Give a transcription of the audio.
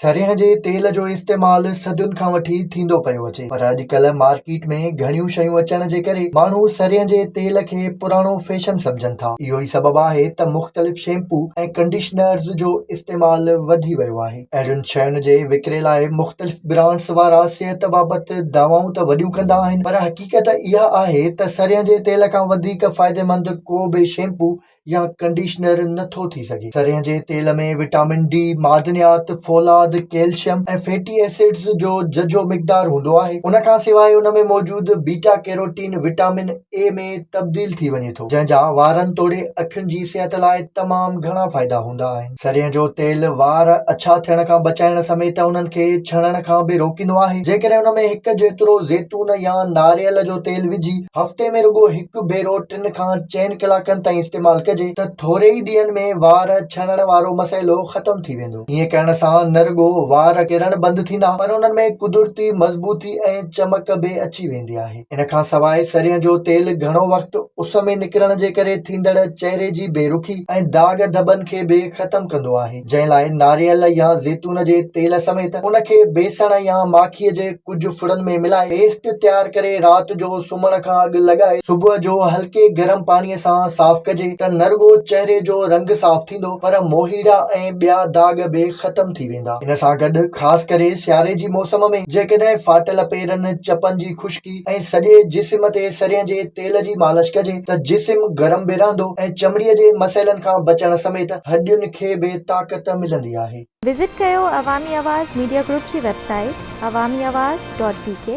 سرينهن جي تيل جو استعمال صدين کان وٺي ٿيندو پيو اچي پر اڄڪلهه مارڪيٽ ۾ گهڻيون شيون اچڻ جي ڪري ماڻهو سرينهن جي تيل کي پراڻو فيشن سمجهن ٿا اهو ئي سبب آهي ته مختلف شيمپو ۽ ڪنڊيشنرز جو استعمال وڌي ويو آهي اهڙين شين جي وڪري لاء مختلف برانڊز وارا صحت بابت دعوائون ته وڏيون ڪندا آهن پر حقيقت اها آهي ته سرينهن جي تيل کان وڌيڪ فائديمند ڪو به شيمپو يا ڪنڊيشنر نه ٿو ٿي سگهي. سرهين جي تيل ۾ وٽامن ڊي، معدنيات، فولاد، ڪيلشم ۽ فيٽي ايسڊز جو ججهو مقدار هوندو آهي. ان کان سواء ان ۾ موجود بيٽا ڪيروٽين وٽامن اي ۾ تبديل ٿي وڃي ٿو، جنهن جا وارن توڙي اکين جي صحت لاء تمام گهڻا فائدا هوندا آهن. سرينهن جو تيل وار اڇا ٿيڻ کان بچائڻ سميت انهن کي ڇڻڻ کان به روڪيندو آهي. جيڪڏهن ان ۾ هڪ جيترو زيتون يا ناريل جو تيل وجهي هفتي ۾ رڳو هڪ ڀيرو ٽن کان چئن ڪلاڪن تائين استعمال ڪجي ته ٿوري ئي ڏينهن ۾ وار ڇڻڻ وارو مسئلو ختم ٿي ويندو. ائين ڪرڻ سان نه رڳو وار ڪرڻ بند ٿيندا پر انهن ۾ قدرتي مضبوطي ۽ چمڪ به اچي ويندي آهي. ان کان سواء سرين جو تيل گهڻو وقت اس ۾ نڪرڻ جي ڪري ٿيندڙ چهري جي بي رخي ۽ داغ ڌٻن کي به ختم ڪندو آهي، جنهن لاء ناريل يا زيتون جي تيل سميت ان کي بيسڻ يا ماکيء جي ڪجهه ڦڙن ۾ ملائي پيسٽ تيار ڪري رات جو سمهڻ کان اڳ لڳائي صبح جو هلڪي گرم پاڻيء سان صاف ڪجي ته نه رڳو چهري جو رنگ صاف ٿيندو پر موهيڙا ۽ ٻيا داغ به ختم ٿي ويندا. ويندا. ان سان گڏ خاص ڪري سياري جي موسم ۾ جيڪڏهن فاٽل پيرن، چپن جي خشڪي ۽ سڄي جسم تي سرين جي تيل جي مالش ڪجي ته جسم گرم به رهندو ۽ چمڙي جي مسئلن کان بچڻ سميت هڏين کي به طاقت ملندي آهي. وزٽ ڪيو عوامي آواز ميڊيا گروپ جي website Awami Awaz dot بي ڪي.